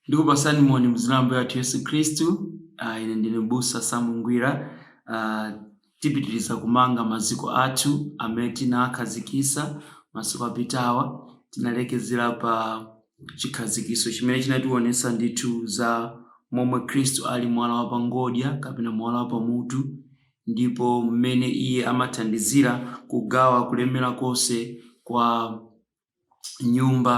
Ndugu pasani moni mzina ambaye atu Yesu Kristu. Uh, ine ndine Busa Samu Ngwira. Uh, Tipitiriza kumanga maziko athu amene tinaakhazikitsa masiku apitawa. Tinalekezera pa chikhazikitso chimene chinatiwonetsa ndithu za momwe Khristu ali mwala wa pa ngodya kapena mwala wa pa mutu ndipo mmene Iye amathandizira kugawa kulemera konse kwa. nyumba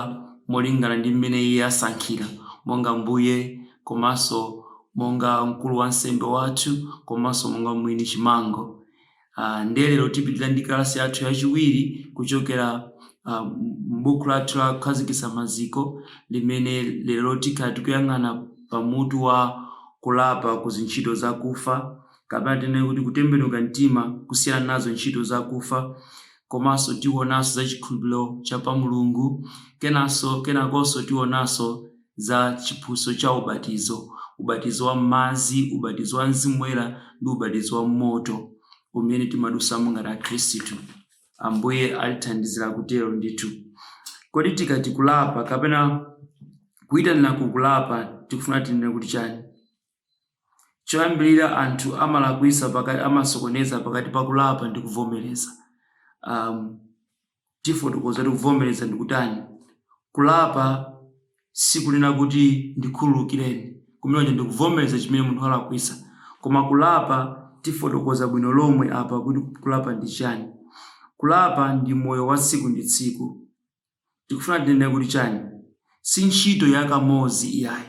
molingana ndi mmene iye asankhira, monga mbuye komanso monga mkulu wansembe wathu komanso monga mwini chimango. Uh, ndiye lero tipitira ndi kalasi yathu yachiwiri kuchokera uh, m'buku lathu la kukhazikitsa maziko limene lero tikhala tikuyang'ana pamutu wa kulapa ku zintchito zakufa kapena tinene kuti kutembenuka mtima kusiyana nazo ntchito zakufa, komanso tionanso za chikhulupiriro cha pa Mulungu, kenanso, kenakonso tionanso za chiphunzitso cha ubatizo, ubatizo wa m'madzi, ubatizo wa Mzimu Woyera, ndi ubatizo wa m'moto umene timadusamo ngati akhristu. Ambuye atithandizira kutero ndithu. Kodi tikati kulapa kapena kuitanira ku kulapa tikufuna tinene kuti chani? Choyambirira anthu amalakwisa pakati amasokoneza pakati pa kulapa ndi kuvomereza. Um, tifotokoza kuti kuvomereza ndi kutani. Kulapa sikunena kuti ndikhululukireni, kumeneko ndi kuvomereza chimene munthu walakwisa. Koma kulapa tifotokoza bwino lomwe apa kuti kulapa ndi chani. Kulapa ndi moyo wa tsiku ndi tsiku. Tikufuna tinene kuti chani? Si ntchito ya kamodzi iyayi.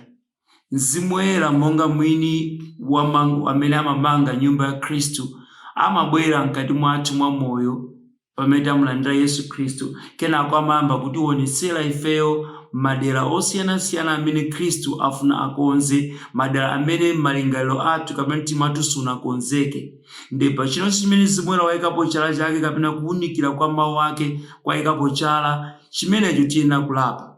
Mzimu Woyera monga mwini chimango amene amamanga nyumba ya Khristu amabwera mkati mwathu mwa moyo pamene tamulandira Yesu Khristu kenako amayamba kutiwonetsera ifeyo madera osiyanasiyana amene Khristu afuna akonze, madera amene malingaliro athu kapena mtima wathu sunakonzeke. Ndiye pa chilichonse chimene Mzimu Woyera waikapo chala Chake, kapena kuwunikira kwa Mawu Ake kwaikapo chala chimenecho, tiyenera kulapa.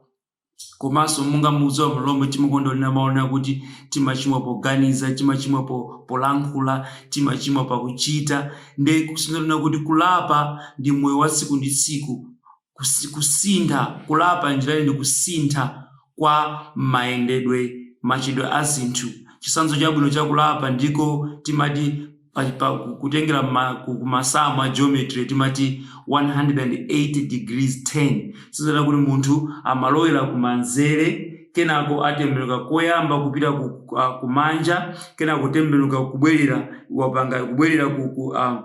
Komanso, monga mukudziwa bwino lomwe, timakonda kunena mawu onena kuti timachimwa poganiza, timachimwa po, polankhula, timachimwa pakuchita. Ndiye kusonyeza kunena kuti kulapa ndi moyo wa tsiku ndi tsiku, Kus, kusintha, kulapa njira ndi kusintha kwa mayendedwe, machitidwe a zinthu. Chitsanzo chabwino cha kulapa ndiko timati pa, pa, kutengera mma, ku, ku masamu a geometry timati 180 degrees turn. Kusonyeza kuti munthu amalowera kumanzere kenako atembenuka koyamba kupita ku, a, kumanja kenako kutembenuka kubwerera wapanga kubwerera ku, ku, a.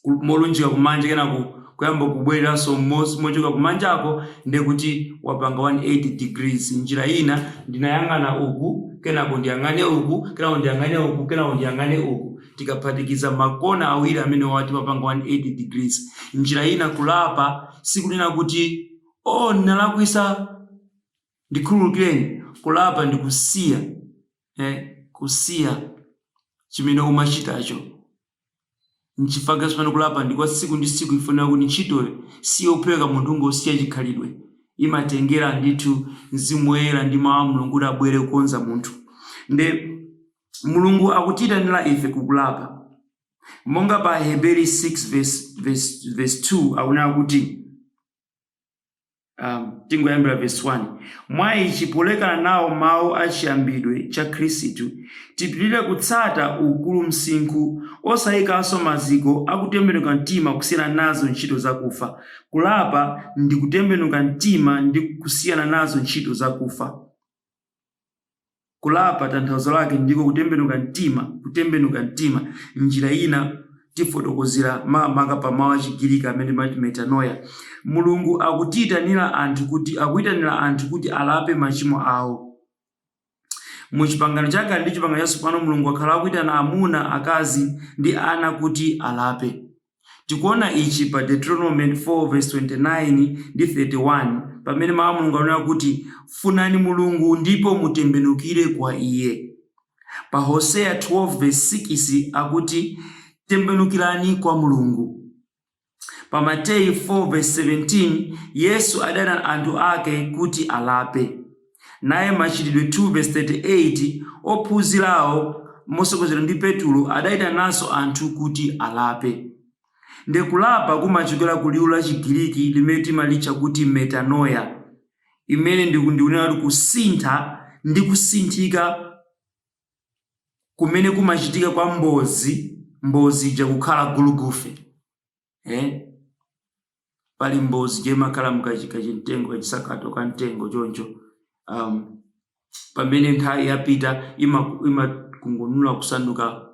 ku- molunjika kumanja kenako kuyamba kubwereranso m'munsi mochoka kumanjako ndiye kuti wapanga 180 degrees njira ina ndinayang'ana uku kenako ndiyang'ane uku kenako ndiyang'ane uku kenako ndiyang'ane uku tikaphatikiza makona awiri amenewa timapanga 180 degrees njira ina kulapa sikunena kuti oh ndinalakwitsa ndikhululukireni kulapa ndi kusiya eh, kusiya chimene umachitacho Nchifukwa chake somano kulapa ndi kwa tsiku ndi tsiku chifukwa chonena kuti ntchitoyo si yophweka munthu kungosiya chikhalidwe. Imatengera ndithu Mzimu Woyera ndi Mau a Mulungu kuti abwere kukonza munthu. Nde Mulungu akutiyitanira ife ku kulapa. Monga pa Aheberi 6 vesi vesi vesi 2 akunena kuti. um, tingoyambira verse 1 mwa ichi polekana nawo mawu a chiyambidwe cha khristu tipirire kutsata ukulu msinkhu osayikanso maziko akutembenuka mtima kusiyana nazo ntchito zakufa kulapa ndi kutembenuka mtima ndi kusiyana nazo ntchito zakufa Kulapa tanthauzo lake ndiko kutembenuka mtima, kutembenuka mtima. Njira ina tifotokozera makamaka pa mawu a Chigiriki amene timati metanoia. Mulungu akutiitanira anthu kuti akuitanira anthu kuti alape machimo awo. Mu Chipangano Chakale ndi Chipangano Chatsopano Mulungu wakhala akuitana amuna, akazi, ndi ana kuti alape. Tikuona ichi pa Deuteronomo 4:29 ndi 31 pamene Mau a Mulungu akunena kuti Funani Mulungu ndipo mutembenukire kwa Iye. Pa Hoseya 12 vesi 6 akuti Tembenukirani kwa Mulungu. Pa Mateyu 4 vesi 17 Yesu adayitana anthu ake kuti alape. naye Machitidwe 2:38, ophunzirawo motsogozedwa ndi Petulo adayitanaso anthu kuti alape. Nde kulapa kumachokera ku liwu la chigiliki limene timalitcha kuti metanoia, imene ndi kunena kuti kusintha ndi kusinthika kumene kumachitika kwa mbozi mbozi ija kukhala gulugufe. eh? pali mbozi ija imakhala mukachimtengo kachisakato ka mtengo choncho um, pamene nthawi yapita imakungunula ima kusanduka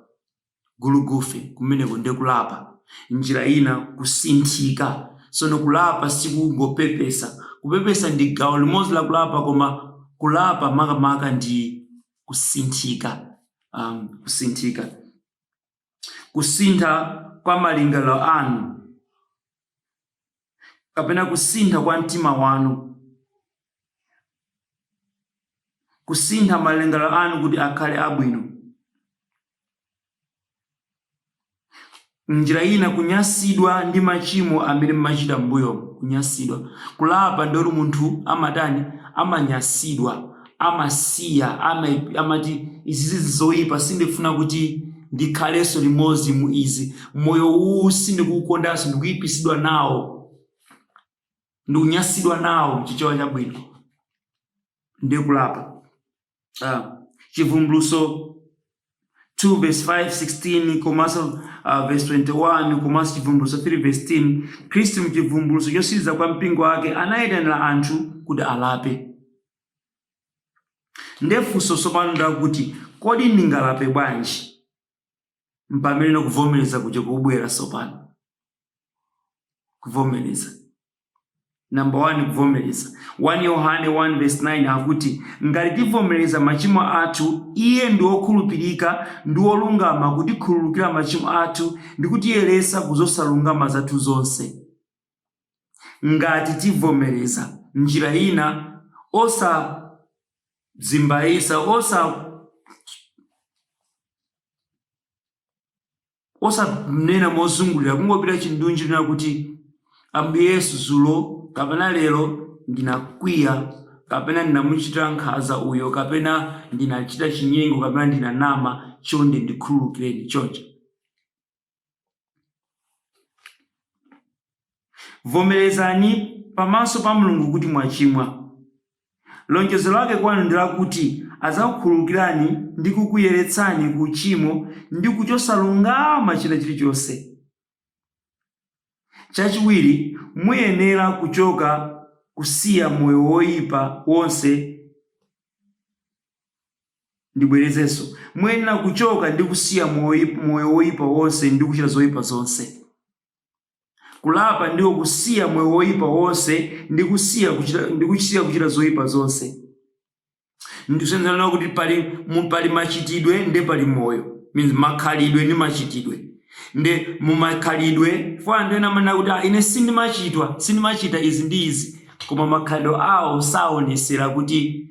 gulugufe kumeneko nde kulapa njira ina kusinthika sono kulapa sikungopepesa kupepesa ndi gawo limodzi la kulapa koma kulapa makamaka ndi kusinthika um, kusinthika kusintha kwa malingaliro anu kapena kusintha kwa mtima wanu kusintha malingaliro anu kuti akhale abwino njira ina kunyasidwa ndi machimo amene mmachita mbuyo kunyasidwa kulapa ndi pamene munthu amatani amanyasidwa amasiya, amaip, amati, Izizizi ndi zoipa, sindifuna kuti ndikhalenso limodzi mu izi. Moyo uwu sindikuwukondanso, ndikuipidwa nawo, ndikunyansidwa nawo, mu Chichewa chabwino. Ndiye kulapa. Uh, Chivumbulutso 2 verse 5, 16 komanso uh, verse 21 komanso Chivumbulutso 3 verse 10, Khristu mu Chivumbulutso chotsiriza kwa mpingo wake anayitanira anthu kuti alape. Nde funso tsopano nlakuti kodi ndingalape bwanji? Mpamene kuvomereza kuja kukubwera tsopano. Kuvomereza. Number 1 kuvomereza. 1 Yohane 1 verse 9 akuti ngati tivomereza machimo athu, iye ndi wokhulupirika ndi wolungama kutikhululukira machimo athu ndi kutiyeretsa ku zosalungama zathu zonse. ngati tivomereza njira ina osadzimbaisa osanena mozungulira kungopita chindunji kunena kuti ambuye yesu zulo kapena lero ndinakwiya kapena ndinamuchitira nkhaza uyo kapena ndinachita chinyengo kapena ndinanama chonde ndikhululukireni choncho Vomerezani pamaso pa Mulungu kuti mwachimwa. Lonjezo lake kwanu ndi lakuti adzakukhululukirani ndi kukuyeretsani ku uchimo ndi ku chosalungama china chilichonse. Chachiwiri, muyenera kuchoka kusiya moyo woipa wonse. Ndibwerezenso, muyenera kuchoka ndi kusiya moyo woipa wonse ndi kuchita zoipa zonse. Kulapa ndiko kusiya moyo woipa wonse ndi kusiya kuchita, ndi kusiya kuchita zoipa zonse. Ndikuyesera kunena kuti pali mu, pali machitidwe nde pali moyo. Izi makhalidwe ndi machitidwe. Nde mu makhalidwe, chifukwa anthu ena amanena kuti ah, ine sindimachitwa, sindimachita izi ndi izi, koma makhalidwe awo saonesera kuti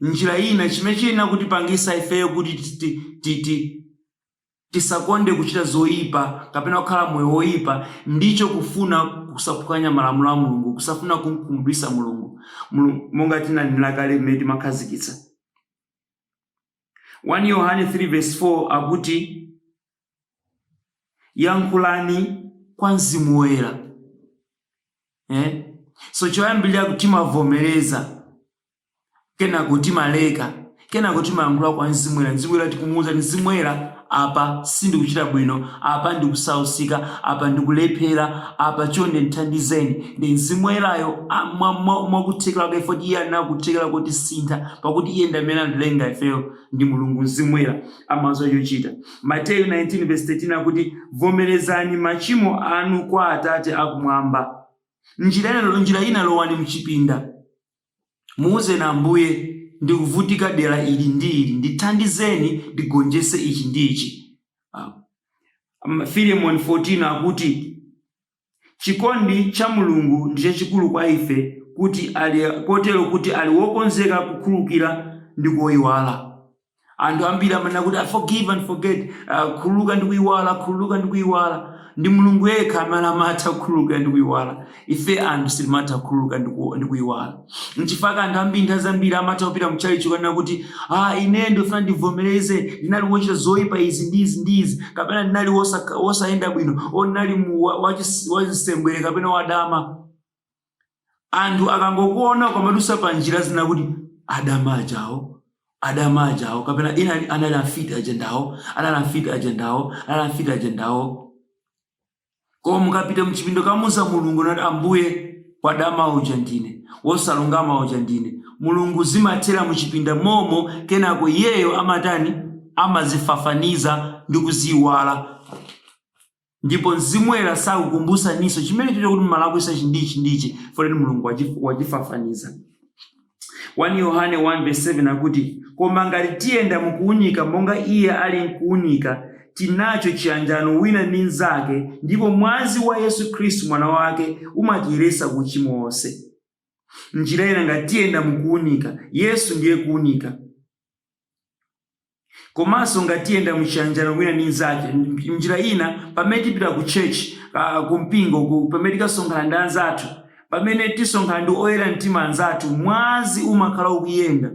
njira ina, chimene chiyenera kutipangisa ifeyo kuti tisakonde kuchita zoipa kapena kukhala moyo woipa, ndicho kufuna kusaphwanya malamulo a Mulungu, kusafuna kumkhumudwitsa Mulungu. Mulungu, monga tinanenera kale mmene timakhazikitsa 1 Yohane 3 vesi 4 akuti yankhulani kwa mzimu woyera eh? so choyambirira kuti timavomereza kenako timaleka kenako timayankhula kwa mzimu woyera mzimu woyera tikumuwuza kuti mzimu woyera apa sindikuchita bwino apa ndikusausika apa ndikulephera apa chonde ndithandizeni ndiye mzimu woyerayo a- mwa- mwa- mwakuthekera kwake poti iye ali ndi kuthekera kotisintha pakuti iye ndi amene anatilenga ifeyo ndi mulungu mzimu woyera amadziwa chochita Mateyu 19 vesi 13 akuti, Vomerezani machimo anu kwa Atate a Kumwamba. Njira ina, njira ina lowani mchipinda. Muuzeni Ambuye, ndikuvutika dera ili ndi ili, ndithandizeni ndigonjese ichi ndi ichi. Ah, Filemoni 14 akuti, Chikondi cha Mulungu ndi chachikulu kwa ife kuti ali kotero kuti ali wokonzeka kukhululukira ndi kuiwala. Anthu ambiri amanena kuti ah, forgive and forget, ah, khululuka ndi kuiwala, khululuka ndi kuiwala. Ndi Mulungu yekha amene amatha kukhululukira ndi kuiwala. Ife anthu sitimatha kukhululuka ndi ku- ndi kuiwala. Nchifukwa anthu ambiri nthawi zambiri amatha kupita mu chalichi kukanena kuti ah, ine ndifuna ndivomereze ndinali wochita zoyipa izi ndi izi ndi izi, kapena ndinali wosayenda bwino, ndinali wachisembwere kapena wadama. Anthu akangokuona ukamadutsa pa njira zina kuti adama ajawo adama ajawo kapena ina anali amfiti ajendawo anali amfiti ajendawo anali amfiti ajendawo Koma mukapita mchipinda kukamuuza mulungu nati ambuye wadama uja ndine wosalungama uja ndine mulungu zimathera muchipinda momwemo kenako iyeyo amatani amazifafaniza ndi kuziiwala ndipo mzimu woyera sakukumbutsaninso chimenecho kuti mumalakwisa ichi ndi ichi poti mulungu wachi- wachifafaniza 1 Yohane 1 vesi 7 akuti, Koma ngati tiyenda mukuunika monga iye ali m'kuunika, tili naco ciyanjano wina ndi mnzake, ndipo mwazi wa Yesu Kristu Mwana wake umatiyeretsa ku ucimo wonse. M'njira ina, ngati tiyenda mukuunika, Yesu ndiye kuunika. Komanso ngati tiyenda mu chiyanjano wina ndi mnzake, m- m'njira ina, pamene tipita ku church, uh, ku mpingo, ku, pamene tikasonkhana ndi anzathu, pamene tisonkhana ndi oyera mtima anzathu, mwazi umakhala ukuyenda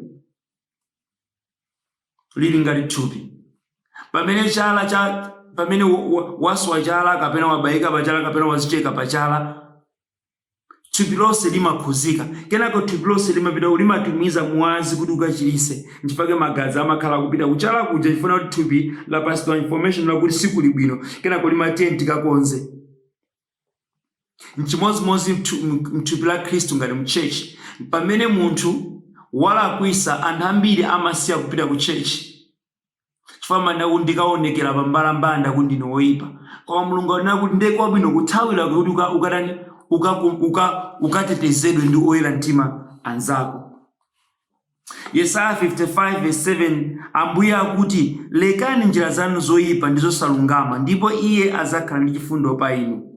ili ngati thupi. Pamene chala cha pamene wa- wa- waswa chala kapena wabayika pa chala kapena wadzicheka pa chala, thupi lonse limakhudzika kenako thupi lonse limapita kuti limatumiza mwazi kuti ukachirise nchifukwa chake magazi amakhala akupita kuchala kuja chifukwa choti thupi lapatsidwa information lakuti sikuli bwino kenako limati tiyeni tikakonze nchimodzimodzi mthu- m- mthupi la khristu ngati mchechi pamene munthu walakwisa anthu ambiri amasiya kupita ku chechi chifukwa amaona kuti ndikaonekera pa mbalambanda kuti ndine woyipa koma mulungu amanena kuti ndiye kwabwino kuthawira kuti uka- ukatani uka- uka- ukatetezedwe ndi oyera mtima anzako yesaya 55 verse 7 ambuye akuti lekani njira zanu zoyipa ndi zosalungama ndipo iye adzakhala ndi chifundo pa inu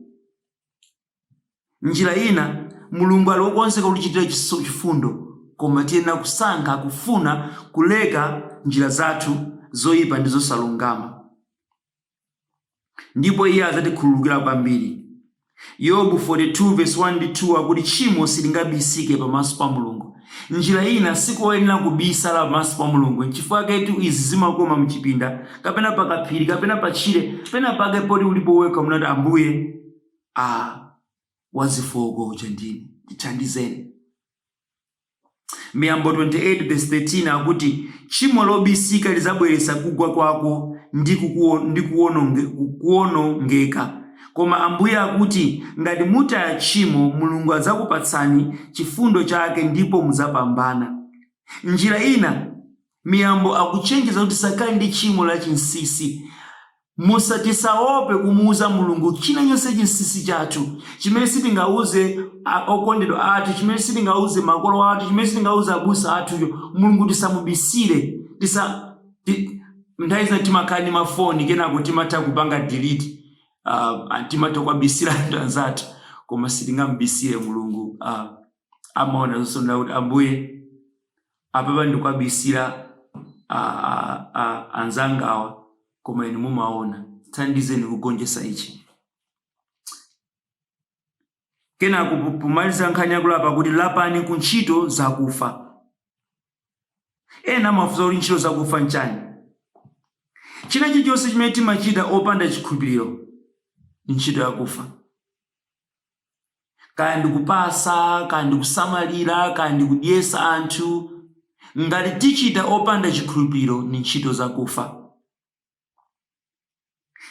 M'njira ina, Mulungu ali wokonzeka kutichitira chifundo, koma tiyenera kusankha kufuna kuleka njira zathu zoipa ndi zosalungama, ndipo iye adzatikhululukira kwambiri. Yobu 42 vesi 1 ndi 2 akuti tchimo silingabisike pamaso pa Mulungu. M'njira ina, sikoyenera kubisala pamaso pa Mulungu. Nchifukwaketu izi zimakoma m'chipinda, kapena pakaphiri, kapena patchire, penapake poti ulipo wekha nkumati, Ambuye! a wazofooka uja ndine ndithandizeni miyambo 28 verse 13 akuti tchimo lobisika lizabweretsa kugwa kwako ndi kukuwo- ndi kuwononge- kuwonongeka koma ambuye akuti ngati mutaya tchimo mulungu adzakupatsani chifundo chake ndipo mudzapambana m'njira ina Miyambo akuchenjeza kuti tisakhale ndi tchimo la chinsisi. Musa tisaope kumuuza Mulungu china chilichonse chinsisi chathu chimene sitingauze a okondedwa athu, chimene sitingauze makolo athu, chimene sitingauze abusa athucho. Mulungu tisamubisire, tisa ti nthawi zina timakhala ndi mafoni kenako timatha kupanga delete a a timatha kuwabisira anthu anzathu koma sitingamubisire Mulungu a amaona zonse kuti Ambuye Apapa ndikuwabisira a a a anzangawa koma inu mumaona. Thandizeni kugonjesa ichi. Kenako po- pomaliza nkhani yakulapa kuti lapani ku ntchito zakufa. Ena amafunsa kuti ntchito zakufa nchani? China chilichonse chimene timachita opanda chikhulupiriro ndi ntchito yakufa. kaya ndi kupasa kaya ndi kusamalira kaya ndi kudyesa anthu ngati tichita opanda chikhulupiro ni ntchito zakufa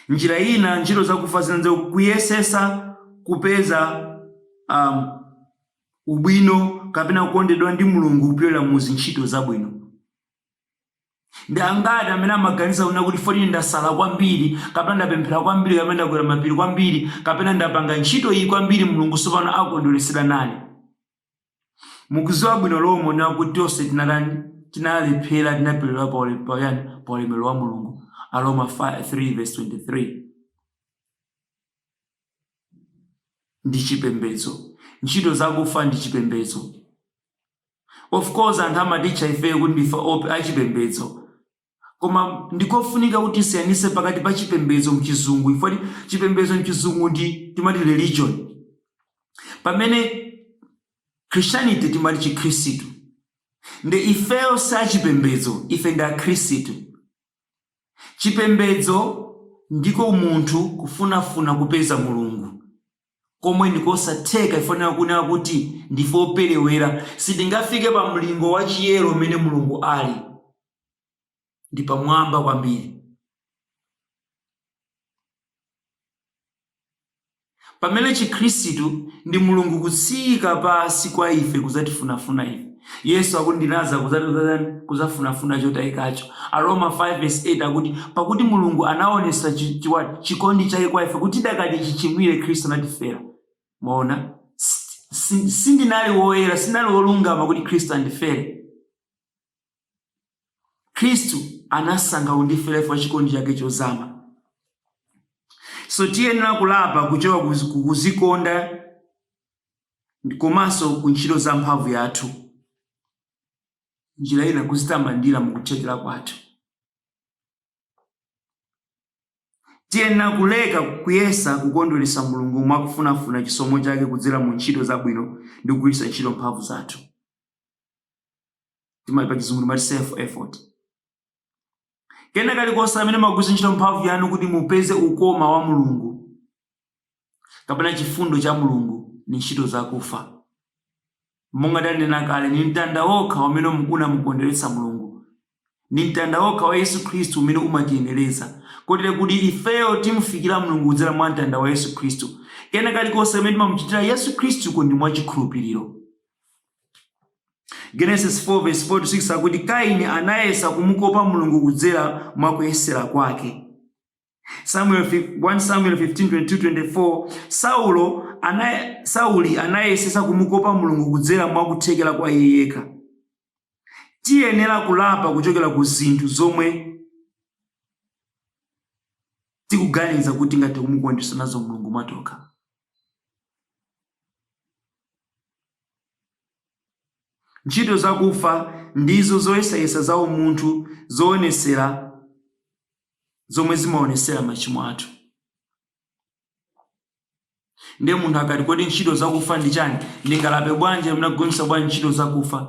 m'njira ina ntchito zakufa zina nzo kuyesesa kupeza um, ubwino kapena kukondedwa ndi mulungu kupyolera mu zintchito zabwino Ndi angati amene amaganiza kunena kuti poti ndasala kwambiri, kapena ndapemphera kwambiri, kapena ndakwera mapiri kwambiri, kapena ndapanga ntchito iyi kwambiri, Mulungu tsopano akondweretsedwa nane? Mukuziwa bwino lomwe kunena kuti tonse tinatani? Tinalephera, tinaperewera pa ule- pa yani? Pa ulemerero wa Mulungu. Aroma 5 3 verse 23. Ndi chipembedzo. Ntchito zakufa ndi chipembedzo. Of course anthu amatitcha ifeyo kuti ndife achipembedzo. Koma ndikofunika kuti tisiyanise pakati pa chipembedzo mchizungu chifukwa ti- chipembedzo mchizungu nde timati religion. Pamene Christianity timati chikhristu. Nde ifeyo si achipembedzo, ife ndi akhristu. Chipembedzo ndiko munthu kufunafuna kupeza Mulungu. komwe ndi kosatheka chifukwa tinali kunena kuti ndife operewera, sitingafike pa mlingo wa chiyero umene Mulungu ali, ndi pamwamba kwambiri. Pamene Chikhristu ndi Mulungu kutsika pansi kwa ife kudzatifunafuna ife. Yesu akuti ndinadza kudzatani? Kudzafunafuna chotayikacho. Aroma 5 vesi 8 akuti pakuti Mulungu anawonetsa chi, chi, what? chikondi chake kwa ife kuti tidakali chichimwire Khristu anatifera. Mwaona? S- si- Sindinali woyera, sindinali wolungama kuti Khristu andifere. Khristu anasankha kundifera chifukwa cha chikondi chake chozama. So tiyenera kulapa kuchoka kuzi- kuzikonda komanso ku ntchito za mphamvu yathu, njira ina kuzitamandira mu kuthekera kwathu. Tiyenera kuleka kuyesa kukondweretsa Mulungu mwa kufunafuna chisomo chake kudzera mu ntchito zabwino ndi kugwiritsa ntchito mphamvu zathu. Timati pa chizungu timati self effort. kena kalikonse kamene mumagwiritsa ntchito mphamvu yanu kuti mupeze ukoma wa mulungu kapena chifundo cha mulungu ni ntchito zakufa monga tanena kale ni mtanda wokha umene unamukondweretsa mulungu ni mtanda wokha wa yesu khristu umene umatiyenereza kotero kuti ifeyo timufikira mulungu kudzera mwa mtanda wa yesu khristu kena kalikonse kamene timamuchitira yesu khristu ndi mwa chikhulupiriro Genesis 4 verse 4 to 6 akuti Kaini anayesa kumukopa Mulungu kudzera mwa kuyesera kwake. Samuel fi- 1 Samuel 15:22-24 Saulo anaye, Sauli anayesesa kumukopa Mulungu kudzera mwa kuthekera kwa iye yekha. Tiyenera kulapa kuchokera ku zinthu zomwe tikuganiza kuti tingati kumukondwesa nazo Mulungu mwatokha. Ntchito zakufa ndizo zoyesayesa za umunthu zoonesera zomwe zimaonesera machimo athu. Ndiye munthu akati kodi ntchito zakufa ndi chani? Ndingalape bwanji kapena kugonjetsa bwanji ntchito zakufa?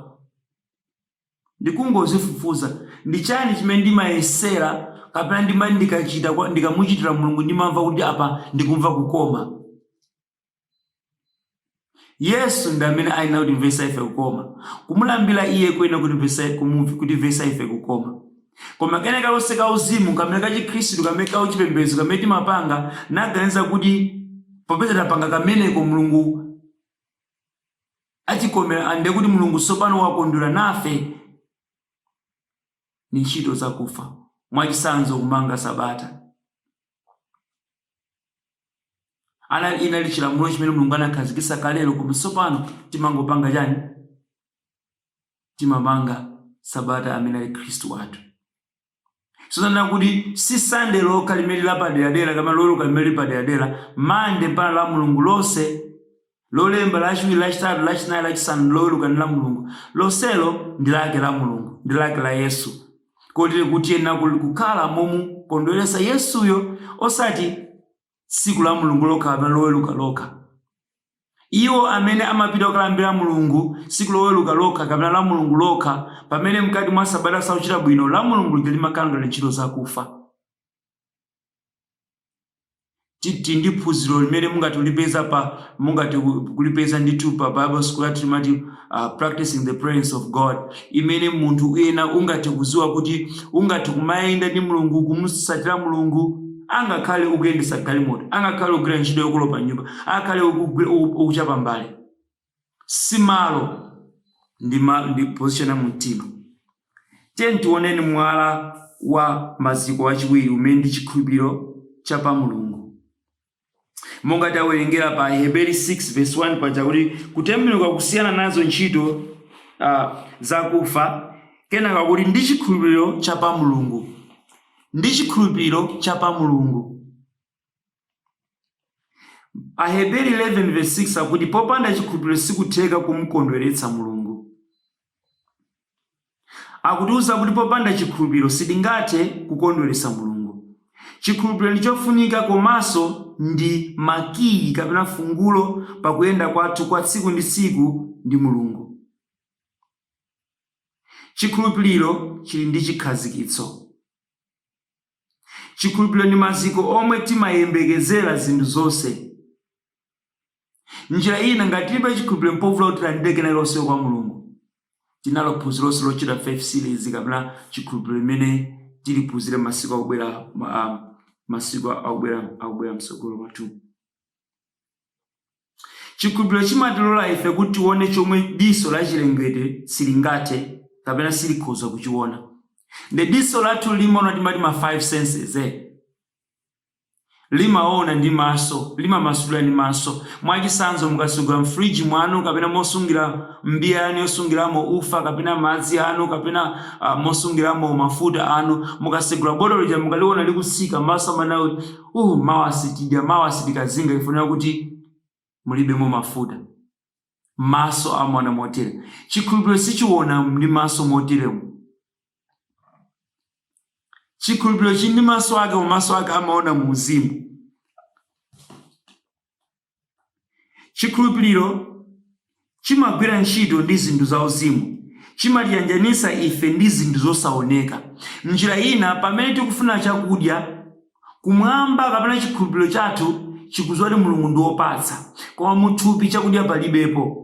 Ndikungozifufuza. Ndi chani chimene ndimayesera kapena ndima ndikachita kwa ndikamuchitira Mulungu ndimamva kuti apa ndikumva kukoma? Yesu ndi amene ayenera kutimvetsa ife kukoma. Kumulambira iye kuyenera kutimvetsa kumu kutimvetsa ife kukoma. Koma kena kalikonse ka uzimu kamene ka chikhristu kamene ka uchipembedzo kamene timapanga naganiza kuti popeza tapanga kameneko Mulungu atikomera and ndekuti mulungu sopano wakondwera nafe, ndi ntchito zakufa mwachisanzo kusunga sabata ana inali chilamulo chimene mulungu anakhazikisa kalero koma sopano timangopanga chani timasunga sabata amene ali khristu wathu Zonena kuti si Sunday lokha limene lili lapaderadera kapena Loweruka limene lili paderadera, Monday mpakana Lamlungu lonse, Lolemba, Lachiwiri, Lachitatu, Lachinayi, Lachisanu ndi Loweruka ndi Lamlungu, lonselo ndi lake la Mulungu, ndi lake la Yesu, kotero kuti tiyenera kukhala momukondweretsa Yesuyo, osati. tsiku Lamlungu lokha kapena Loweruka lokha. Iwo amene amapita kukalambira Mulungu tsiku Loweruka lokha kapena Lamlungu lokha, pamene mkati mwa sabata sakuchita bwino, Lamlungu lija limakhala ngati ntchito zakufa. Ti- Tili ndi phunziro limene mungathe kulipeza pa mungathe ku- kulipeza ndithu pa Bible school yathu limati uh, practicing the presence of God imene munthu ena ungathe kuziwa kuti ungathe kumayenda ndi mulungu kumusatira mulungu angakhale ukuyendesa galimoto angakhale ukugwira ntchito yokolopa nyumba angakhale ukugwi- uku- ukuchapa mbale simalo ndi, ma, ndi position ya mumtima tiyeni tione mwala wa maziko wachiwiri umene ndi chikhulupiriro cha pa mulungu monga tawerengera pa Aheberi 6 verse 1 paja kuti kutembenuka kusiyana nazo ntchito ah, zakufa kenaka kuti ndi chikhulupiriro cha pa mulungu ndi chikhulupiriro cha pa mulungu aheberi 11 verse 6 akuti popanda chikhulupiriro sikutheka kumkondweretsa mulungu Akutiuza kuti popanda chikhulupiriro sitingathe kukondweretsa Mulungu. Chikhulupiriro ndi chofunika komanso ndi makiyi kapena fungulo pa kuyenda kwathu kwa tsiku ndi tsiku ndi Mulungu. Chikhulupiriro chili ndi chikhazikitso. Chikhulupiriro ndi maziko omwe timayembekezera zinthu zonse. Njira ina, ngati tilibe chikhulupiriro mpovuta kuti tilandire kenakalikonse kwa Mulungu. Tinalo phunziro lonse lotchedwa Faith Series kapena chikhulupiriro limene tiliphunzire masiku akubwera ma- um, masiku akubwera akubwera mtsogolo mwathu. Chikhulupiriro chimatilola ife kuti tione chomwe diso la chilengedwe silingathe kapena silikhoza kuchiona. Nde diso lathu limaona timati ma five senses eh. Limaona ndi maso, limamasulira ndi maso. Mwachitsanzo, mukasegula m'fridge mwanu kapena mosungira m'mbiya yanu yosungiramo ufa kapena madzi anu kapena a, mosungiramo mafuta anu, mukasegula botolo lija mukaliona likutsika, maso amanena kuti, Uh, mawa sitidya, mawa sitikazinga chifukwa kuti. mulibemo mafuta. Maso amaona motere. Chikhulupiriro sichiona ndi maso moteremu. Chikhulupiriro chili ndi maso ake, koma maso ake amaona mu uzimu. Chikhulupiriro chimagwira ntchito ndi zinthu za uzimu, chimatiyanjanitsa ife ndi zinthu zosaoneka. M'njira ina, pamene tikufuna chakudya Kumwamba kapena chikhulupiriro chathu chikudziwa kuti Mulungu ndi wopatsa, koma mu thupi chakudya palibepo.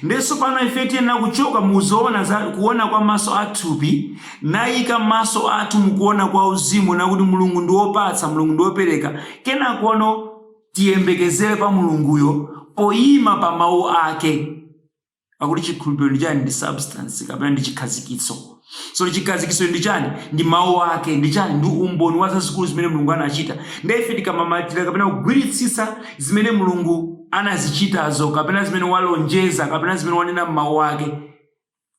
Ndiye tsopano ife tiyenera kuchoka mu zoona za kuona kwa maso a thupi naika maso athu mu kuona kwa uzimu na kuti Mulungu ndi wopatsa, Mulungu ndi wopereka, kenakono, tiyembekezere pa Mulunguyo poyima pa Mawu Ake. Pakuti chikhulupiriro ndi chani? Ndi substance kapena ndi chikhazikitso. So chikhazikitso ndi chani? Ndi Mawu Ake. Ndi chani? Ndi umboni wa zazikulu zimene Mulungu anachita. Ndiye ife tikamamatira kapena kugwiritsitsa zimene Mulungu anazichitazo kapena zimene walonjeza kapena zimene wanena m'Mawu Ake,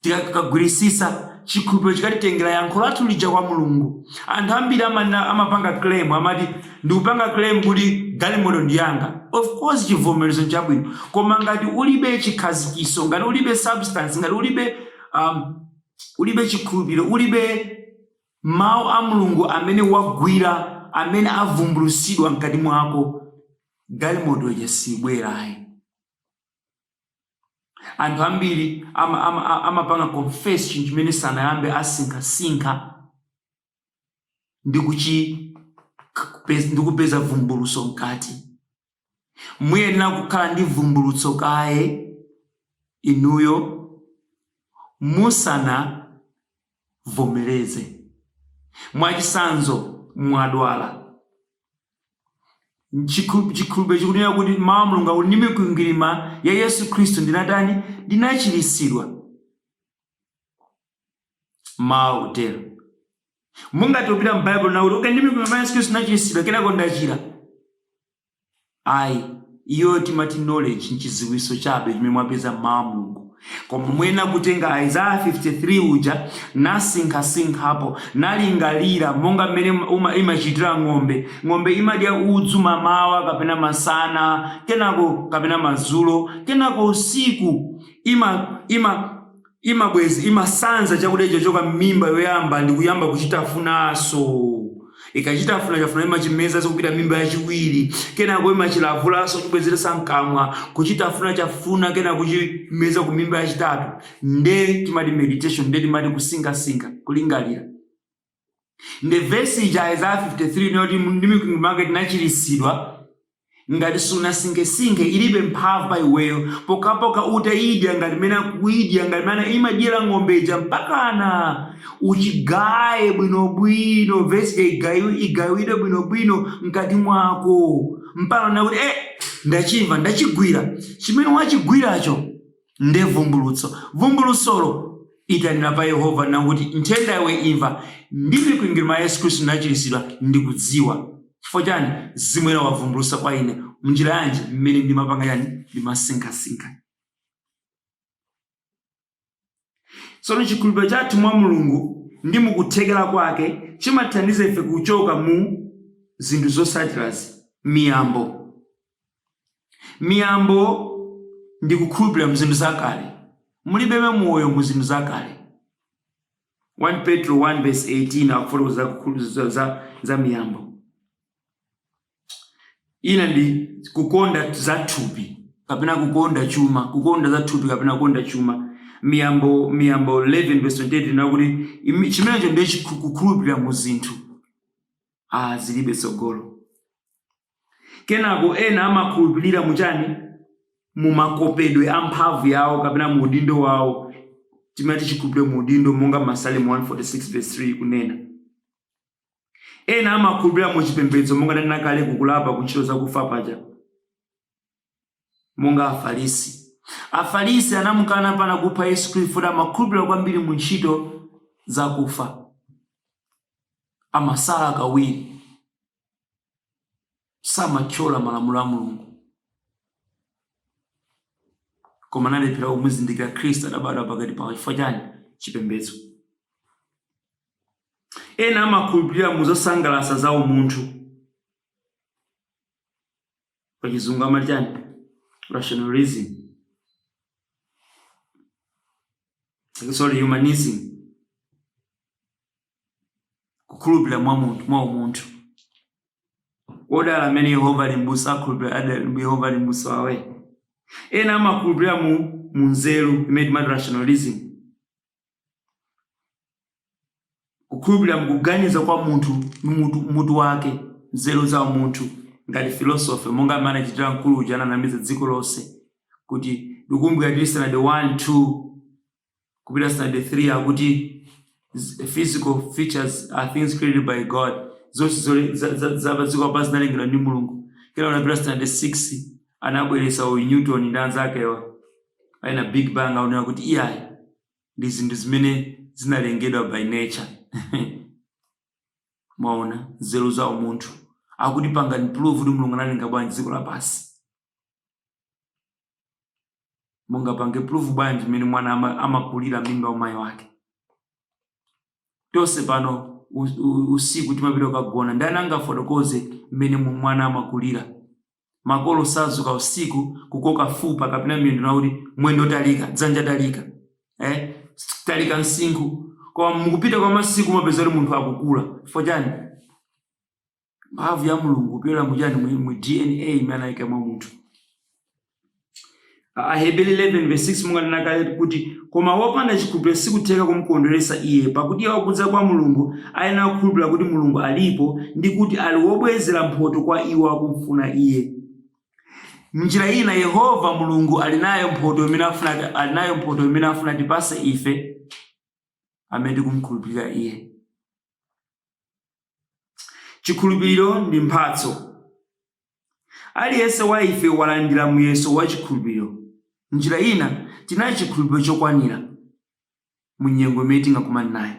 Tikagwirisisa, chikhulupiro chikatitengera yankho lathu lija kwa Mulungu. Anthu ambiri amanena amapanga claim amati ndikupanga claim kuti galimoto ndi yanga. Of course chivomerezo nchabwino. Koma ngati ulibe chikhazikiso, ngati ulibe substance, ngati ulibe um, ulibe chikhulupiro, ulibe mawu a Mulungu amene wagwira, amene avumbulusidwa mkati mwako, galimoto ija sibwerayi. Anthu ambiri ama, ama, a- amapanga confess chinthu chimene sanayambe asinkhasinkha ndi kuchi kupez- ndi kupeza vumbuluso mkati. Muyenera kukhala ndi vumbulutso kaye inuyo musana vomereze. Mwachitsanzo, mwadwala. Chikhulu- Chikutineka kuti mawu a Mulungu akuti ndi mikwingwirima ya Yesu Khristu ndinatani? Ndinachiritsidwa. Mawu akutero. Mungathe kupita m'Baibulo nakuti okay, ndi mikwingwirima ya Yesu Khristu ndinachiritsidwa, kenako ndachira. Ayi, iyo timati knowledge n'chidziwitso chabe chimene mwapeza m'Mawu a Mulungu. Koma muyenera kutenga Isaiah 53 uja nasinkhasinkhapo, nalingalira monga mmene uma- imachitira ng'ombe. Ng'ombe imadya udzu mamawa kapena masana, kenako kapena madzulo, kenako usiku ima ima imabwez imasanza chakudya chochoka mmimba yoyamba ndikuyamba kuchitafunaso. Ikachitafunatafuna imachimezanso kupita mmimba yachiwiri kenako imachilavulaso kuchibwezeresa mkamwa kuchitafunatafuna kenako kuchimeza ku mimba yachitatu nde timati meditation nde timati kusinkhasinkha, kulingalira. nde vesi ija Isaiah 53 ina yoti ndi mikwingwirima yake tinachiritsidwa ngati sunasinkhesinkhe ilibe mphamvu pa iweyo pokapoka utayidya ngati mene kuyidya ngati mene imadyera ng'ombe ija mpakana uchigaye bwinobwino vesiyo igayi- igayidwe bwinobwino mkati mwako mpakana kuti eh, ndachimva ndachigwira chimene wachigwiracho Nde vumbulutso vumbulutsolo itanira pa Yehova nkuti, Nthenda iwe imva, ndi mikwingwirima ya Yesu Khristu ndinachiritsidwa, ndikudziwa. Chifukwa chani? Mzimu Woyera wavumbulutsa kwa ine. Mnjira yanji? Mmene ndimapanga chani? Ndimasinkhasinkha. Tsono chikhulupiriro chathu mwa Mulungu ndi mu kuthekera kwake chimathandiza ife kuchoka mu zinthu zotsatirazi, miyambo. Miyambo ndi kukhulupilira mu zinthu zakale. Mulibemo moyo mu zinthu zakale. 1 Petro 1 vs 18 akufotokoza za kukhulupilira za, za miyambo ina ndi kukonda za thupi kapena kukonda chuma kukonda za thupi kapena kukonda chuma miyambo miyambo 11 vs 28 ina kuti imi- chimenecho ndiye chikhu- kukhulupilira mu zinthu ah zilibe tsogolo Kenako ena amakhulupilira mu chani? Mu makopedwe amphamvu yawo kapena mu udindo wawo, timati chikhulupiliro mu udindo monga Masalimo 146 vs 3 ikunena. Ena amakhulupilira mu chipembedzo monga ndanena kale ku kulapa ku ntchito zakufa paja monga Afalisi. Afalisi anamukana mpakana kupha Yesu Khristu poti amakhulupilira kwambiri mu ntchito zakufa. Amasala kawiri. samatyola malamulo a mulungu koma analephera kumuzindikira khristu adabadwa pakati pawo chifukwa chani chipembedzo ena amakhulupirira mu zosangalatsa za umunthu pachizungu amati chani rationalism sorry humanism kukhulupirira mwa munthu mwa umunthu odala amene yehova ali m'busa akhulupirira ada- yehova ali m'busa wawe ena amakhulupirira mu mu nzeru imene timati rationalism kukhulupirira mkuganiza kwa munthu ndi mutu, mutu wake nzeru za munthu ngati filosofe monga amene anachitira mkulu uja ananamiza dziko lonse kuti ndikumbukira tili standard 1 2 kupita standard 3 akuti z- physical features are things created by god zonse zole- za- za- za padziko lapansi zinalengedwa ndi mulungu kena unapita standard 6 anabweresa a newton ndi anzake a ina big bang aonera kuti iyayi ndi zinthu zimene zinalengedwa by nature mwaona nzeru za umunthu akuti pangani prove kuti mulungu analenga bwanji dziko lapansi mungapange prove bwanji mmene mwana ama- amakulira m'mimba mwa mayi wake tonse pano u- u- usiku timapita kukagona ndani angafotokoze mmene mu- mwana amakulira makolo sazuka usiku kukoka fupa kapena miyendo nakuti mwendo talika dzanja talika eh? talika msinkhu koma mukupita kwa masiku umapeza kuti munthu akukula chifukwa chani mphamvu ya mulungu kupyolera mu chani mu mu dna imene anayika mwa munthu A- aheberi 11 verse 6 monga ndinanena kale kuti koma wopanda chikhulupiriro sikutheka kumkondweretsa iye pakuti iye wakudza kwa mulungu ayenera kukhulupirira kuti mulungu alipo ndi kuti ali wobwezera mphoto kwa iwo akumfuna iye mnjira ina yehova mulungu ali nayo mphoto imene afuna ali nayo mphoto imene afuna atipase ife amene tikumkhulupirira iye Chikhulupiriro ndi mphatso. Aliyense wa ife walandira muyeso wa chikhulupiriro. M'njira ina, tili nacho chikhulupiriro chokwanira mu nyengo imene tingakumane nayo.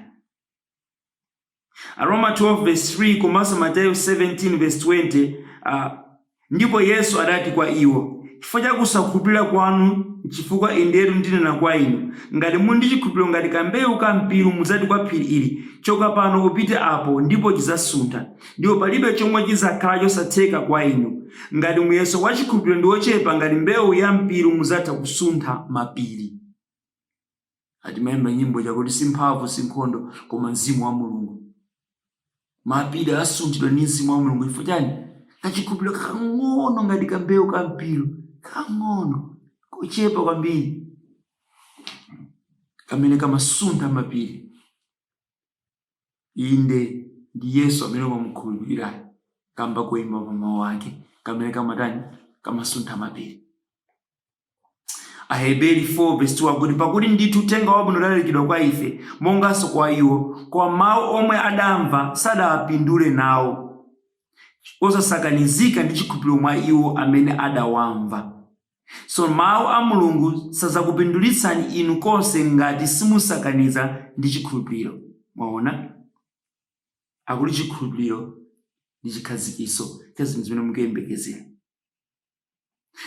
Aroma 12 vs 3 komanso Mateyu 17 vs 20 a. Ndipo Yesu adati kwa iwo, Chifukwa cha kusakhulupirira kwanu, nchifukwa indetu ndinena kwa inu, ngati muli ndi chikhulupiriro ngati kambewu ka mpiru mudzati kwa phiri ili, choka pano upite apo, ndipo chidzasuntha, ndipo palibe chomwe chidzakhala chosatheka kwa inu. Ngati muyeso wa chikhulupiriro ndi wochepa ngati mbewu ya mpiru mudzatha kusuntha mapiri. timaimba nyimbo chakuti si mphamvu si nkhondo koma mzimu wa mulungu mapiri asunthidwa ndi mzimu wa mulungu chifukwa chani kachikhulupiriro kakang'ono ngati kambewu ka mpiru kakang'ono kochepa kwambiri kamene kamasuntha mapiri inde ndi yesu amene ukamukhulupirirayo kamba koima pa mawu ake kamene kamatani kamasuntha mapiri Aheberi 4 verse 2 akuti pakuti ndithu uthenga wabwino udalalikidwa kwa ife monganso kwa iwo, koma mawu omwe adamva sadawapindule nawo, osasakanizika ndi chikhulupiriro mwa iwo amene adawamva. So mawu a Mulungu sadzakupindulitsani inu konse ngati simusakaniza ndi chikhulupiriro. Mwaona? Akuti chikhulupiriro ndi chikhazikiso cha zinthu zimene mukuyembekezera.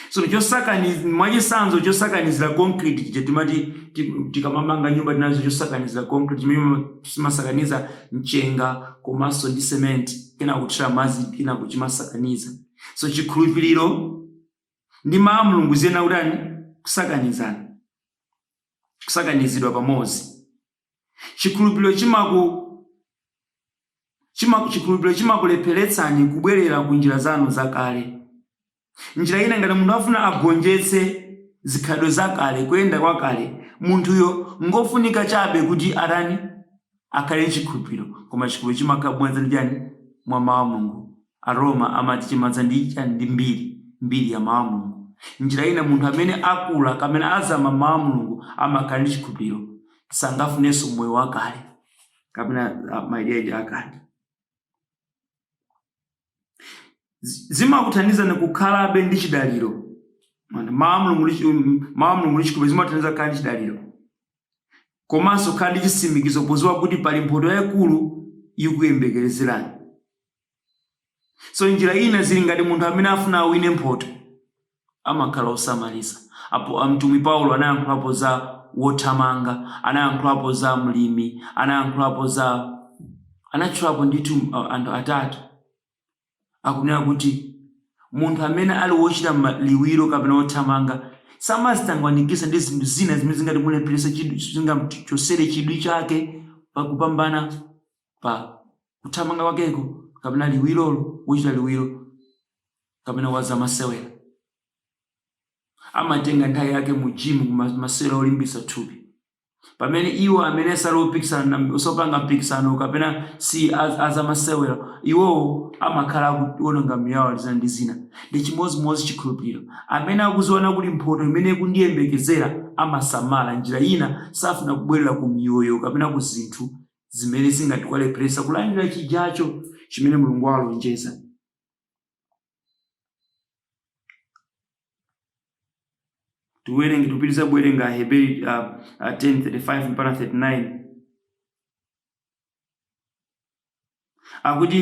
So chosakaniza mwachitsanzo chosakanizira concrete chija timati ti- tikamamanga nyumba tinazo chosakanizira concrete chimene chimasakaniza mchenga komanso ndi cement kenaka kuthira madzi kenaka chimasakaniza. So chikhulupiriro ndi mawu a Mulungu ziyenera kutani kusakanizana kusakanizidwa pamodzi. Chikhulupiriro chimaku, chimaku, chikhulupiriro chimakulepheretsani kubwerera ku njira zanu zakale. Njira ina, ngati munthu afuna agonjetse zikhalidwe zakale, kuyenda kwakale, munthuyo ngofunika chabe kuti atani? Akhale ndi chikhulupiriro. Koma chikhulupiriro chimadza mwa chani? Mwa Mau a Mulungu Aroma amati chimadza ndi chani? Ndi mbiri, mbiri ya Mawu a Mulungu. Njira ina, munthu amene akula kapena azama m'Mawu a Mulungu amakhala ndi chikhulupiriro, sangafunenso moyo wakale kapena ah, maideology akale. Zi- Zimakuthandizani kukhalabe ndi chidaliro. Mawu a Mulungu ndi chi- um, Mawu a Mulungu ndi chikhulupiriro zimathandiza kukhala ndi chidaliro komanso kukhala ndi chitsimikizo podziwa kuti pali mphoto yayikulu ikuyembekezerani. so njira ina zili ngati munthu amene afuna awine mphoto amakhala osamalitsa apo amtumwi paulo anayankhulapo za wothamanga anayankhulapo za mlimi anayankhulapo za anatchulapo ndithu uh, anthu atatu akunena kuti munthu amene ali wochita ma- liwiro kapena wothamanga samazitangwanikisa ndi zinthu zina zimene zingati mulepherese chidwi zingamchosere chidwi chake pakupambana pa kuthamanga kwakeko kapena liwirolo, wochita liwiro kapena wa zamasewera amatenga nthawi yake mu jimu ku ma- masewera olimbitsa thupi pamene iwo amene sali opikisana na- osapanga mpikisano kapena si az- azamasewera iwowo amakhala akuononga miyoyo yawo zina ndi zina nde chimodzimodzi chikhulupiriro amene akuziona kuti mphoto imene ikundiyembekezera amasamala njira ina safuna kubwerera ku miyoyo kapena ku zinthu zimene zingati kuwalepheresa kulandira chijacho chimene mulungu walonjeza tiwerenge tipitiriza kuwerenga aheberi uh, uh, 10:35 mpaka 39 akuti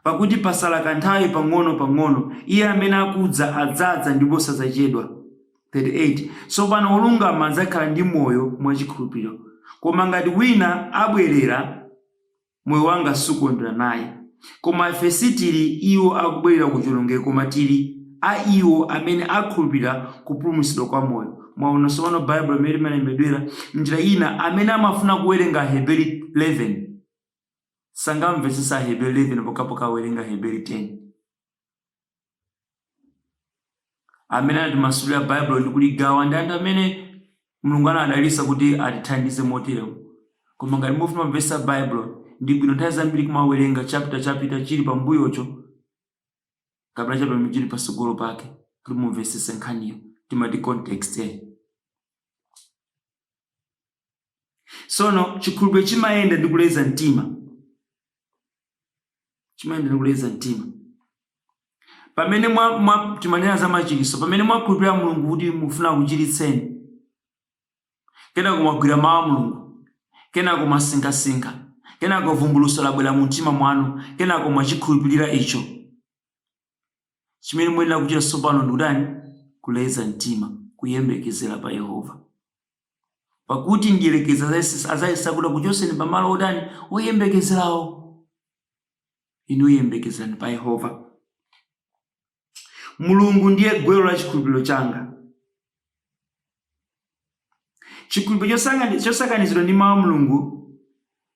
Pakuti patsala kanthawi pang'ono pang'ono, iye amene akudza adzadza ndipo sadzachedwa. 38, Tsopano wolungama adzakhala ndi moyo mwa chikhulupiriro. Koma ngati wina abwerera, moyo wanga sukondwera naye. Koma ife sitili iwo akubwerera ku chionongeko koma tili iwo amene akhulupirira kupulumutsidwa kwa moyo. Mwaona, tsopano Baibulo limene limalembedwera M'njira ina, amene amafuna kuwerenga Aheberi 11. sangamvetsetse Aheberi 11 pokhapokha awerenga Aheberi 10. Amene anatimasulira Baibulo ndi kuligawa ndi anthu amene Mulungu anadalitsa kuti atithandize motero. Koma ngati mufuna kumvetsa Baibulo, ndi bwino nthawi zambiri kumawerenga chapita chapita chili pambuyocho kapena chapita chimene chili patsogolo pake kuti mumvetsetse nkhaniyo timati context. tsono chikhulupiriro chimayenda ndi kuleza mtima chimayenda ndi kuleza mtima pamene mwa, mwa, timanena za machiritso pamene mwakhulupirira mulungu kuti afuna akuchiritseni kenako mwagwira mawu a mulungu kenako mwasinkhasinkha kenako vumbulutso labwera mu mtima mwanu kenako mwachikhulupirira icho Chimene muyenera kuchita tsopano ndi kutani? Kuleza mtima, kuyembekezera pa Yehova. Pakuti mdierekezi adzayesetsa adzayesa kuti akuchotseni pa malo otani? Oyembekezerawo. Inu yembekezerani pa Yehova. Mulungu ndiye gwero la chikhulupiriro changa. Chikhulupiriro chosangani- chosakanizidwa ndi mawu a Mulungu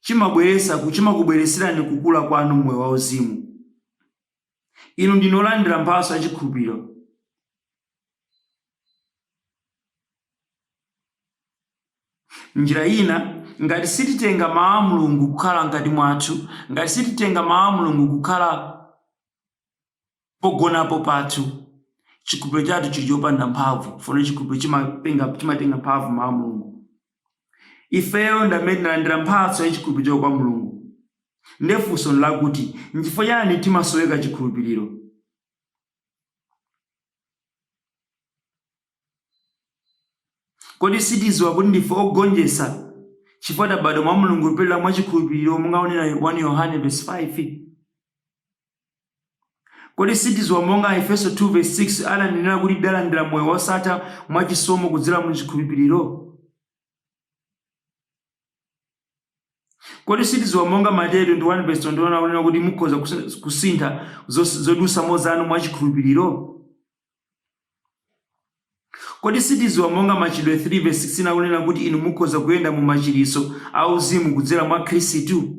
chimabweretsa ku- chimakubweretserani kukula kwanu m'moyo wauzimu. Inu ndinu olandira mphatso ya chikhulupiro. M'njira ina, ngati sititenga mawu a Mulungu kukhala mkati mwathu, ngati sititenga mawu a Mulungu kukhala pogonapo pathu, chikhulupiro chathu chili chopanda mphamvu, tsono chikhulupiro chimapenga- chimatenga mphamvu m'mawu a Mulungu. Ifeyo ndi amene tinalandira mphatso ya chikhulupiriro kwa Mulungu. Ndiye funso ndi lakuti, n'chifukwa chiyani timasowekera chikhulupiriro? Kodi sitidziwa kuti ndife ogonjetsa chifukwa tabadwa mwa Mulungu kupyolera mwa chikhulupiriro monga akunenera 1 Yohane vesi 5? Kodi sitidziwa monga Aefeso 2 vesi 6 ananenera kuti tidalandira moyo wosatha mwa chisomo kudzera mu chikhulupiriro? Kodi sitidziwa monga Mateyu 21 vesi 21 akunenera kuti mukhoza kusintha zodutsamo zanu mwa chikhulupiriro? Kodi sitidziwa monga Machitidwe 3 vesi 16 akunenera kuti inu mukhoza kuyenda mu machiritso a uzimu kudzera mwa Khristu?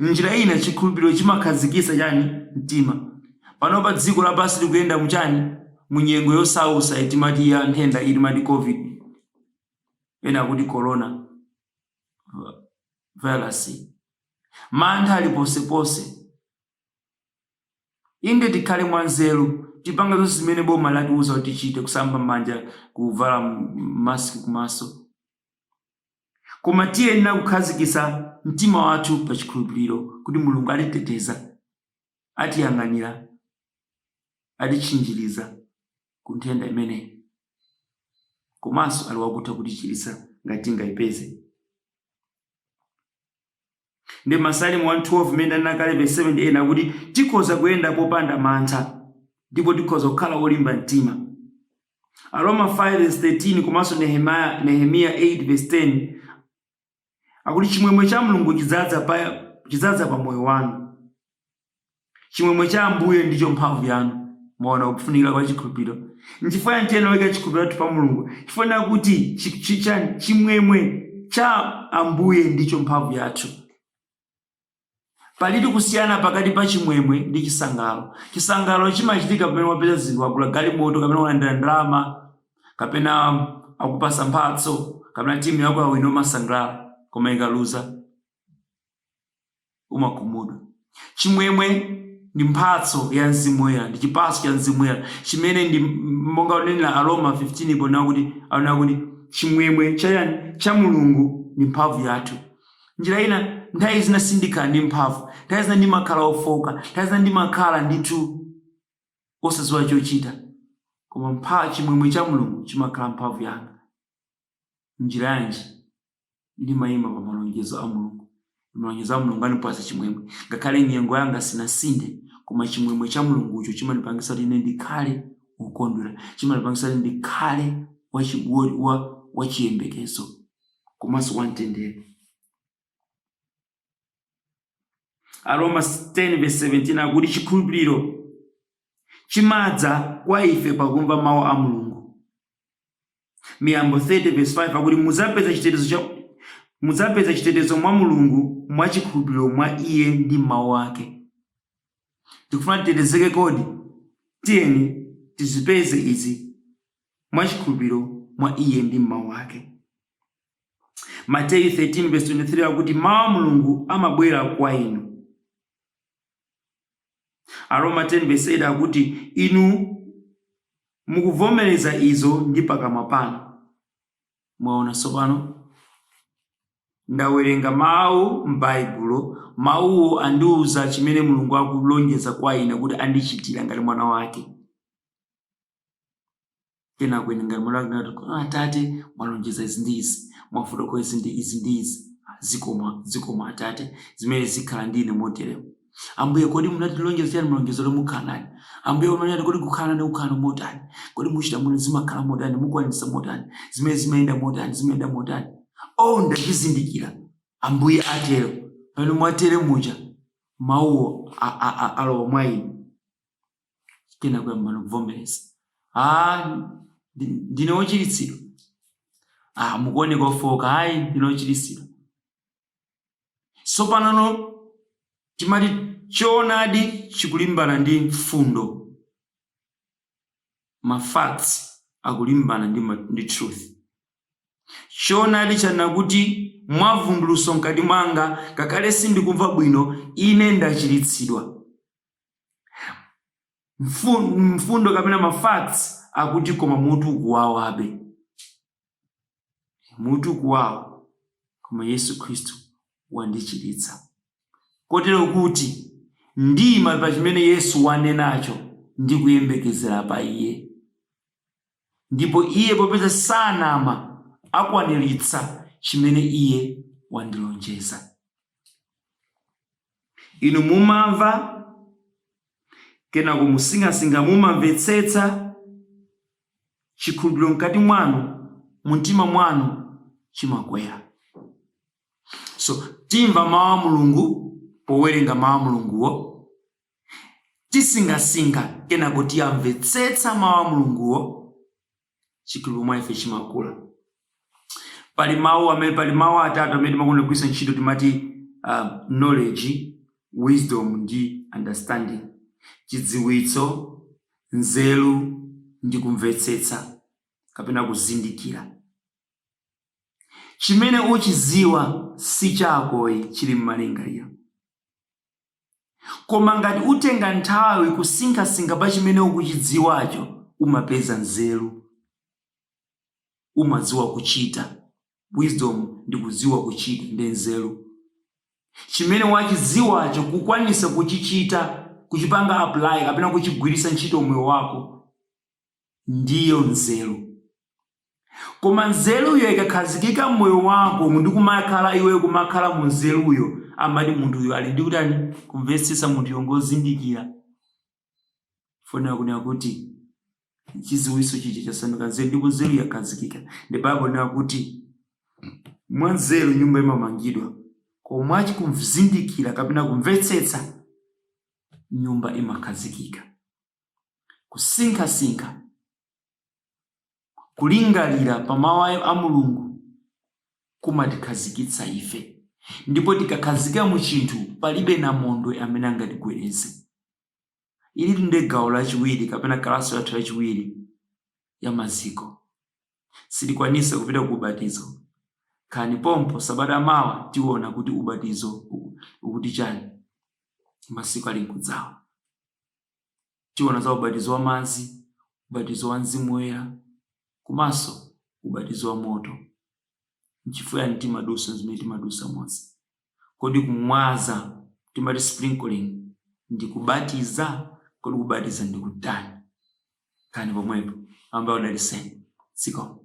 M'njira ina, chikhulupiriro chimakhazikitsa chani? Mtima. Panopa dziko lapansi likuyenda mu chani? Mu nyengo yosausa iyi timati ya nthenda iyi timati Covid, ena akuti Corona virus. Mantha ali ponseponse. Inde tikhale mwa nzeru, tipange zonse zimene boma latiuza kuti tichite, kusamba m'manja, kuvala mask kumaso. Koma tiyenera kukhazikitsa mtima wathu pa chikhulupiriro kuti Mulungu atiteteza, atiyang'anira, atitchinjiriza ku nthenda imeneyi komanso ali wakutha kutichiritsa ngati tingaipeze. Ndi Masalimo 112 mmene ndanena kale vesi 7 ndi 8 akuti tikhoza kuyenda popanda mantha ndipo tikhoza kukhala olimba mtima. Aroma 5 vesi 13 komanso Nehemiah, Nehemiya 8 vesi 10 akuti chimwemwe cha Mulungu chidzadza pa chidzadza pa moyo wanu. Chimwemwe cha Ambuye ndicho mphamvu yanu. Mwaona kufunikira kwa chikhulupiriro. Nchifukwa yanji tiyenera kuika chikhulupiriro chathu pa Mulungu? Chifukwa ndi chakuti chi- chi- chani? chimwemwe cha Ambuye ndicho mphamvu yathu. Palitu kusiyana pakati pa chimwemwe ndi chisangalalo. Chisangalalo chimachitika pamene wapeza zinthu, wagula galimoto kapena walandira ndalama kapena akupasa mphatso kapena timu yako yawina umasangalala koma ikaluza umakhumudwa. Chimwemwe ndi mphatso ya Mzimu Woyera, ndi chipatso cha Mzimu Woyera, chimene ndi monga onenera Aroma 15 ponena kuti aonera kuti chimwemwe cha yani cha Mulungu ndi mphamvu yathu. Njira ina, nthawi zina sindikhala ndi mphamvu, nthawi zina ndimakhala ofoka, nthawi zina ndimakhala ndithu osadziwa chochita, koma mpha chimwemwe cha Mulungu chimakhala mphamvu yanga. Njira yanji? ndimaima pa malonjezo a Mulungu. Malonjezo a Mulungu andipatsa chimwemwe. Ngakhale nyengo yanga sinasinthe, koma chimwemwe cha Mulungucho chimandipangitsa kuti ine ndikhale wokondwera. Chimandipangitsa kuti ndikhale wachi- wo- wa- wachiyembekezo komanso wamtendere. aroma 10 verse 17 akuti chikhulupiriro chimadza kwa ife pakumva mawu a mulungu miyambo 30 verse 5 akuti mudzapeza chitetezo cha mudzapeza chitetezo mwa mulungu mwa chikhulupiriro mwa iye ndi m'mawu ake tikufuna titetezeke kodi tiyeni tizipeze izi mwa chikhulupiriro mwa iye ndi m'mawu ake Mateyu 13:23 akuti mawu a Mulungu amabwera kwa inu. Aroma 10:8 akuti inu mukuvomereza izo ndi pakamwa panu. Mwaona tsopano? Ndawerenga mawu m'Baibulo, mawuwo andiwuza chimene Mulungu akulonjeza kwa ine kuti andichitira ngati mwana wake. kenako ine ngati mwana wake ndinati kuti "Ah, atate mwalonjeza izi ndi izi mwafotokoza izi ndi izi ndi izi Ah, zikomo zikomo atate zimene zikhala ndi ine moteremo ambuye kodi munatilonjeza chani mlonjezo lomukhala nani ambuye umanati kodi kukhala nani kukhala motani kodi muchita muno zimakhala motani mukwanisa motani zimene zimayenda motani zimayenda motani o ndachizindikira ambuye atero pamene mwatere muja mawuwo a- a- a- alowa mwa ine kenako uyambano kuvomereza ah, ndine wochiritsidwa ah, mukuoneka ofoka ayi ndine wochiritsidwa sopanano timati choonadi chikulimbana ndi mfundo mafacts akulimbana ndi, ndi truth choonadi chanena kuti mwavumbuluso mkati mwanga ngakhale sindikumva bwino ine ndachiritsidwa mfundo kapena mafacts akuti koma mutu ukuwawabe mutu ukuwawa koma yesu khristu wandichiritsa kotero kuti ndiima pa chimene yesu wanenacho ndi kuyembekezera pa iye ndipo iye popeza sanama akwaniritsa chimene iye wandilonjeza. Inu mumamva, kenako musinkhasinkha, mumamvetsetsa, chikhulupiriro mkati mwanu, mumtima mwanu chimakwera. So timva mawu a Mulungu powerenga mawu a Mulunguwo, tisinkhasinkha kenako tiyamvetsetsa mawu a mulunguwo chikhulupiriro mwa ife chimakula pali mawu amene pali mawu atatu amene timakonda kugwiritsa ntchito timati um, knowledge wisdom ndi understanding chidziwitso nzeru ndi kumvetsetsa kapena kuzindikira chimene uchiziwa si chakoyi chili m'malingaliro Koma ngati utenga nthawi kusinkhasinkha pa chimene ukuchidziwacho, umapeza nzeru. Umadziwa kuchita. Wisdom ndi kudziwa kuchita ndi nzeru. Chimene wachidziwacho kukwanisa kuchichita, kuchipanga apply kapena kuchigwiritsa ntchito mmoyo wako. ndiyo nzeru. Koma nzeruyo ikakhazikika m'moyo wako ndi kumakhala iweyo kumakhala mu nzeruyo, amati munthuyo ali ndi kutani? Kumvetsetsa munthuyo ngozindikira. Chonera kunena kuti chidziwitso chija chasanduka nzeru ndipo nzeru yakhazikika. Nde Baibulo linena kuti mwa nzeru nyumba imamangidwa, koma mwa kuzindikira kapena kumvetsetsa nyumba imakhazikika. kusinkhasinkha kulingalira pa mawu a mulungu kumatikhazikitsa ife ndipo tikakhazika mu chinthu palibe namondwe amene angatigwedeze ili nde gawo lachiwiri kapena kalasi yathu yachiwiri ya maziko sitikwanisa kupita ku ubatizo khalani pompo sabata yamawa tiona kuti ubatizo ukuti chani masiku ali nkudzawo Tiona za ubatizo wa madzi, ubatizo wa Mzimu Woyera komanso ubatizo wa moto. Nchifukwa chani timadusa zimene timadusamoze? Kodi kumwaza timati sprinkling ndi kubatiza? Kodi kubatiza ndi kutani? Khalani pomwepo Ambuye adaliseni siko